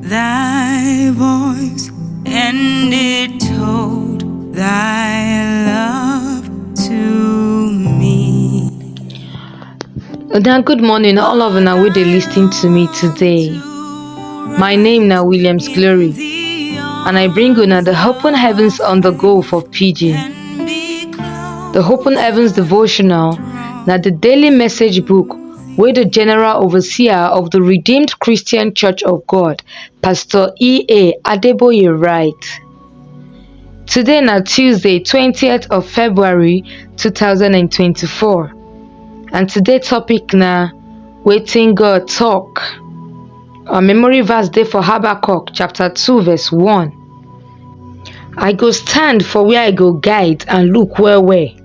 Thy voice, and it told thy love to me. Then good morning, all of una wey dey lis ten to me today. My name na Williams Glory, and I bring una the Open Heavens on the Go for Pidgin. The Open Heavens devotional na the daily message book wey di general overseer of di redeemed christian church of god pastor e a adeboye write today na tuesday twenty of february two thousand and twenty four and today topic na wetin god talk our memory verse dey for habakkuk chapter two verse one i go stand for where i go guide and look well well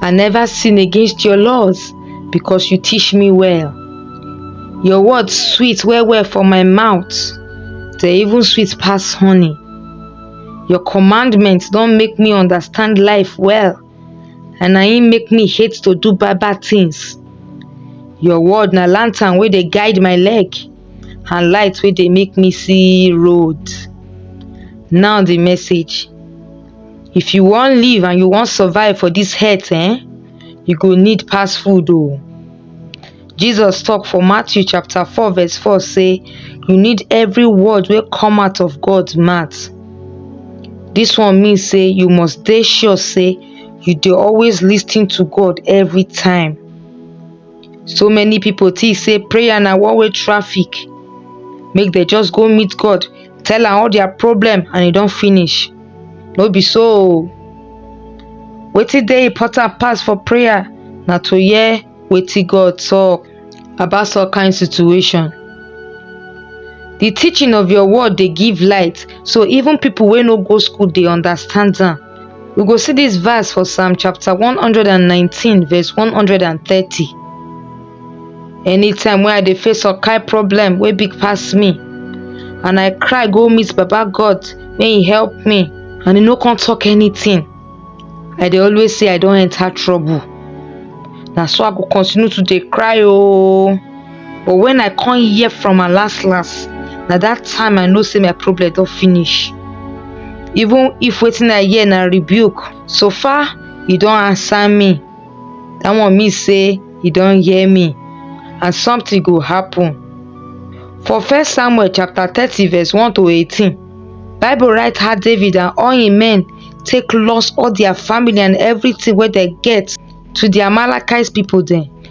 I never sin against your laws because you teach me well. Your words sweet well well for my mouth, they even sweet pass honey. Your commandments don make me understand life well, and na im make me hate to do bad bad things. Your word na lantern wey dey guide my leg, and light wey dey make me see road. Now the message. if you wan live and you wan survive for dis earth eh you go need pass food o jesus talk for matthew chapter four verse four say you need every word wey come out of god mouth dis one mean say you must dey sure say you dey always lis ten to god every time so many people think say prayer na one way traffic make dem just go meet god tell am all their problem and e don finish no be so o wetin dey important pass for prayer na to hear wetin god talk about some kind situation the teaching of your word dey give light so even people wey no go school dey understand am We go see this verse for Psalm chapter 119 verse 130. Anytime when I dey face a kind problem wey big pass me and I cry go meet Baba God may he help me and he no come talk anything. I dey always say I don enter trouble. Na so I go continue to dey cry oh. but when i come hear from am last last na that time i know say my problem don finish even if wetin i hear na rebuke so far he don answer me that one mean say he don hear me and something go happen for first samuel chapter thirty verse one to eighteen bible write how david and all him men take loss all their family and everything wey dem get to the amalekites people dem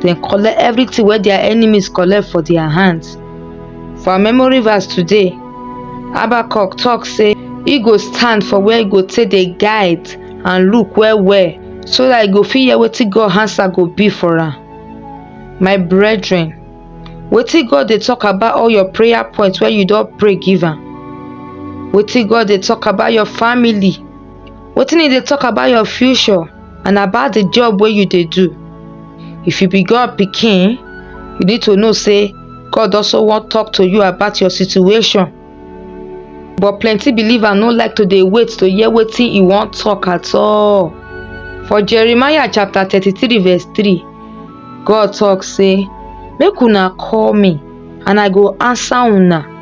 dem collect everything wey their enemies collect for their hands. For our memory verse today, Habakkuk talk say e go stand for where e go take dey guide and look well well so that e go fit hear wetin God answer go be for am. My brethren, wetin God dey talk about all your prayer points wey you don pray give am? Wetin God dey talk about your family? Wetin e dey talk about your future? and about the job wey you dey do. If you be God pikin, you need to know say God also wan talk to you about your situation. But plenty believer no like to dey wait to hear wetin e wan talk at all. For Jeremiah chapter thirty-three verse three, God talk say, Make una call me and I go answer una.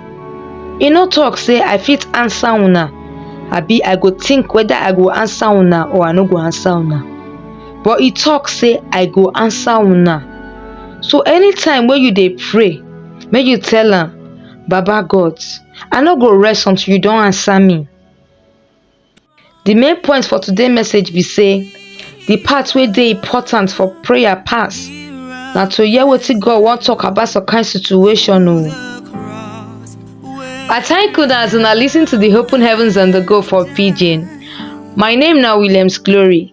E no talk say I fit answer una, abi I go think whether I go answer una or I no go answer una. But e talk say I go answer una. So anytime wey you dey pray, make you tell am, Baba God, I no go rest until you don answer me. Di main point for today message be say di part wey dey important for prayer pass na to hear wetin God wan talk about some kind situation o. I thank una as una lis ten to di Open Heavens on the Go for Pidgin. My name na Williams Glory.